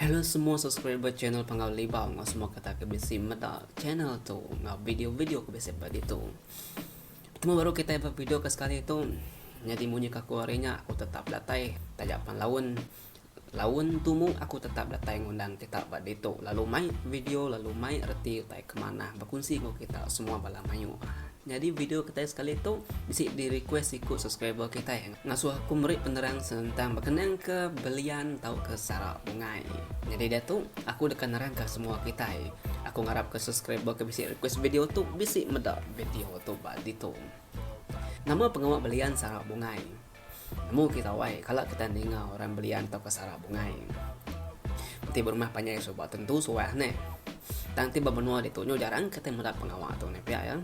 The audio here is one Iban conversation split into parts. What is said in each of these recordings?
Hello semua subscriber channel Panggau Libau enggau semua kata ke bisi meda channel tu enggau video-video ke bisi ba ditu. Betemu baru kita ba video ke sekali tu. Nyadi munyi kaku hari nya aku tetap datai taja pan laun. Laun tumu aku tetap datai ngundang kita ba ditu lalu mai video lalu mai reti utai ke manah bekunsi enggau kita semua bala mayuh. Nyadi video kitai sekali tu bisi di request siku subscriber kitai ngasuh aku meri penerang senentang bekenang ke belian tauka sara bungai. Nyadi diatu aku deka nerangka semua kitai. Aku ngarap ke subscriber ke bisi request video tu bisi meda video tu ba ditu. Nama pengawa belian sara bungai? Nemu kita awai kala kita ninga orang belian tauka sara bungai. Ti berumah panjai suba tentu suah ne. Tang ti bemenua ditu nyu jarang kitai meda pengawa tu ne pia ya.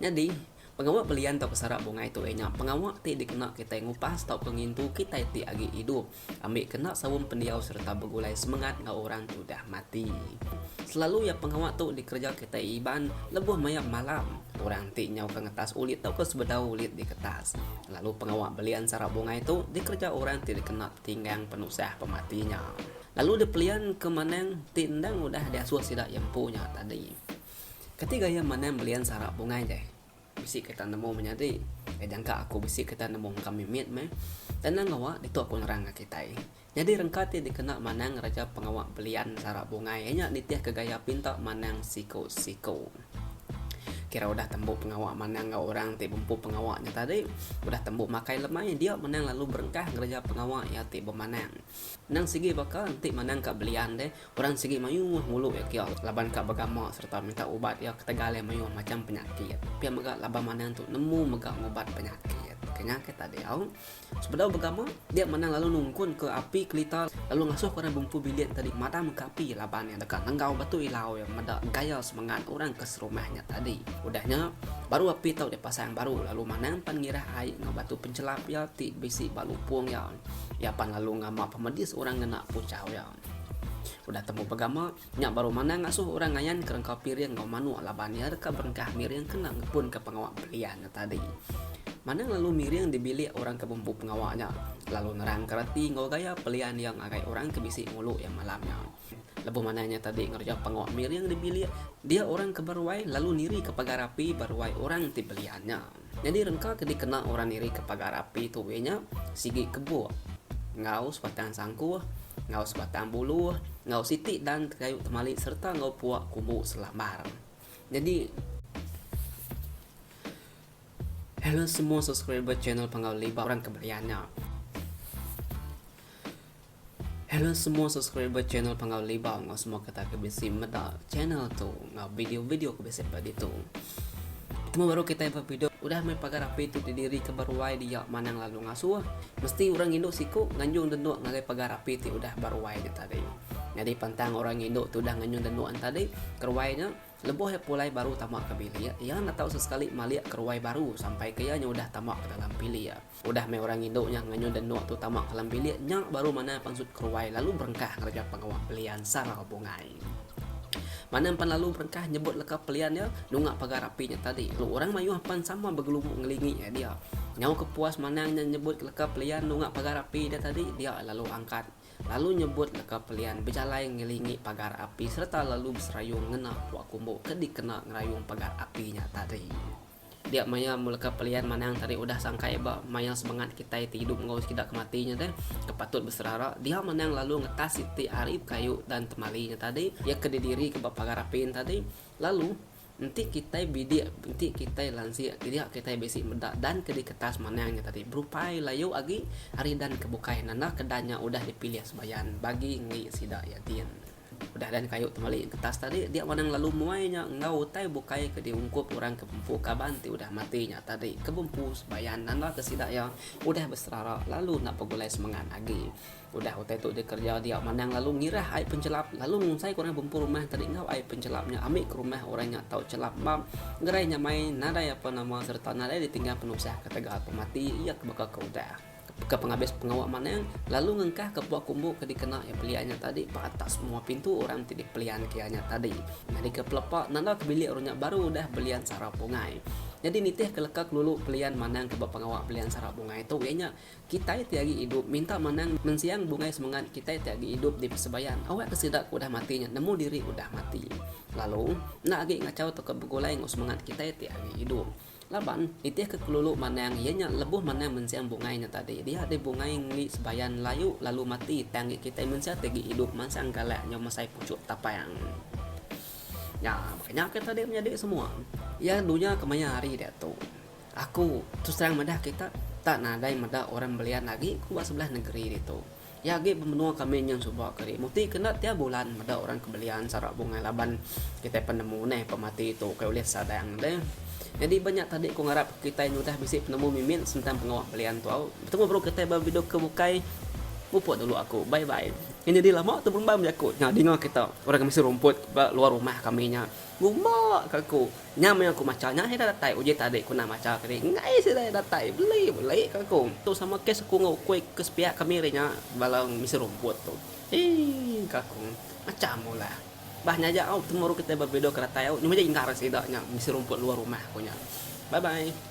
Nyadi pengawa belian tauka sara bungai tu inya pengawa ti dikena kitai ngupas tauka ngintu kitai ti agi idup. Ambi kena saum pendiau sereta begulai semengat enggau orang ti udah mati. Selalu iya pengawa tu dikereja kitai Iban lebuh maya malam. Orang ti nyauka ngetas ulit tauka sebedau ulit diketas. Lalu pengawa belian sara bungai tu dikereja orang ti dikena tetinggang penusah pemati nya. Lalu dipelian ke manang ti endang udah diasuh sida iya empu nya tadi. Kati gaya manang belian sara bungai deh? Bisi ketan nemu menyadi. Kai jangka aku bisi ketan nemu engka mimit meh. Tanang ngawa ditu aku nerang ka kitai. Nyadi rengka ti dikena manang Raja Pengawa Belian Sara Bungai iya nya nitihka gaya pinta manang siku-siku. Kira udah tembu pengawa manang enggau orang ti bempu pengawa nya tadi, udah tembu makai lemai dia menang lalu berengkah ngereja pengawa iya ti bemanang. Endang sigi baka enti manang ka belian deh, Orang sigi mayuh ngulu iya kia laban ka begama sereta minta ubat iya ketegal iya mayuh macham penyakit. Pia mega laban manang tu nemu mega ngubat penyakit. Kenya ke tadeu, sebedau begama, dia manang lalu nungkunka api kelita lalu ngasuhka orang bumpu bilik tadi madamka api laban iya deka nenggau batu ilau iya meda gaya semengat orang ke serumah nya tadi. Udah nya, baru api tau dipasang baru lalu manang pan ngirah ai enggau batu penchelap iya ti bisi ba lupung iya. Iya pan lalu ngama pemedis orang ngena puchau iya. Udah tembu pegama, nya baru manah ngasuh orang ngayanka rengkau piring enggau manuk laban iya deka berengkah miring kena ngepunka pengawa belian nya tadi. Manang lalu miring di bilik orang ke bempu pengawa nya, lalu nerangka reti enggau gaya pelian iya ngagai orang ke bisi ngulu iya malam nya. Lebuh manah nya tadi ngereja pengawa miring di bilik dia orang ke beruai lalu nirika pagar api beruai orang ti belian nya. Nyadi rengka ke dikena orang nirika pagar api tu iya nya sigi kebuk enggau sebatang sangkuh enggau sebatang bulu enggau siti dan kayu temali sereta enggau puak kubu selambar. Nyadi Hello semua subscriber channel Panggau Liba orang ke belian nya. Hello semua subscriber channel Panggau Libau ngau semua kata ke bisi meda channel tu ngau video-video ke bisi ba ditu. Temu baru kita ba video udah mai pagar api tu didiri ke baruai dia manang lalu ngasuh. Mesti orang indu siku nganjung denuk ngagai pagar api ti udah baruai nya tadi. Nyadi pantang orang indu tu udah nganjung denuk an tadi keruai nya lebuh ia pulai baru tama ke bilik ia enda tau sesekali malik keruai baru sampai ke ia nya udah tama ke dalam bilik. Udah meh orang indu nya nganyun Deno tu tama kalam bilik nya baru Manah pansut keruai lalu berengkah ngereja pengawa pelian sarau bungai. Manah empan lalu berengkah nyebut leka pelian iya nunga pagar api nya tadi lalu orang mayuh empan sama begelubu ngelingi iya dia. Nyau ke puas Manah nya nyebut leka pelian nunga pagar api dia tadi dia lalu angkat lalu nyebut leka pelian bejalai ngelingi pagar api sereta lalu beserayung ngena pua kumbu ke dikena ngerayung pagar api nya tadi. Dia maya mula ka pelian manang tadi udah sangkai ba maya semengat kitai ti idup enggau sekeda ke mati nya deh ke patut beserara dia manang lalu ngetah siti ari bekayu dan temali nya tadi iya ke didiri ke ba pagar apin tadi lalu enti kitai bidik enti kitai lansik dia kitai bisi meda dan ke diketas manang nya tadi berupai layu agi ari dan ke bukai nanda ke dan nya udah dipilih sebayan bagi enggi sida iya din. Udah dan kayu temali getas tadi dia wanang lalu muai nya enggau utai bukai ke diungkup orang ke bempu kaban ti udah mati nya tadi ke bempu sebayan nanda ke sida iya udah beserara lalu enda begulai semengat agi. Udah utai tu dikereja dia wanang lalu ngirah ai penchelap lalu ngungsaika orang bempu rumah tadi enggau ai penchelap nya ambi ke rumah orang nya tau chelap ba gerai nyamai nadai apa nama sereta nadai ditingga penusah ketegal pemati iya ke baka ke udah. Baka pengabis pengawa Manang lalu ngengkah ke puak kumbu ke dikena iya pelian nya tadi ba atas menua pintu orang ti dipelian ke iya nya tadi. Nyadika pelepa nanda ke bilik orang nya baru udah belian sara bungai. Nyadi nitih ke leka kelulu pelian Manang ke ba pengawa belian sara bungai tu iya nya kitai ti agi idup minta Manang mensiang bungai semengat kitai ti agi idup di Pesebayan awak ke sida ke udah mati nya nemu diri udah mati lalu enda agi ngachau tauka begulai enggau semengat kitai ti agi idup. Laban, nitih ke kelulu manang iya nya lebuh manang mensing bungai nya tadi dia deh bungai ngeli sebayan layu lalu mati tang ngi kitai mensia ti agi idup mansang galak nyau mesai puchuk tapang. Nya baka nya ke tadi menyadi semua iya dunya kemaya hari diatu. Aku terus terang madah kita tak nadai meda orang belian agi ku ba sebelah nengeri ditu. Iya agi bemenua kami nyun suba keri muti ke enda tiap bulan meda orang ke belian sara bungai laban kitai penemu neh pemati tu ukai ulih sadang deh. Nyadi ba nya tadi ku ngarap kitai nyudah bisi penemu mimit sentang pengawa belian tu au. Betemu baru kitai ba video ke bukai. Mupuk dulu aku. Bye bye. Nyadi lama tu belumba meh jaku nya dinga kita orang ke misi rumput ba luar rumah kami nya. Gumba ke aku. Nya meh aku macha nya ira datai uji tadi ku nah macha kini enggai sida ira datai beli beli ke aku. Tu sama kes aku enggau ukui ke sepiak kami hari nya bala misi rumput tu. Eii ke aku. Macam mula. Bah nya aja au betemu ru kitai ba video ke datai au nyuma aja indah ngaran sida nya misi rumput luar rumah aku nya. Bye bye.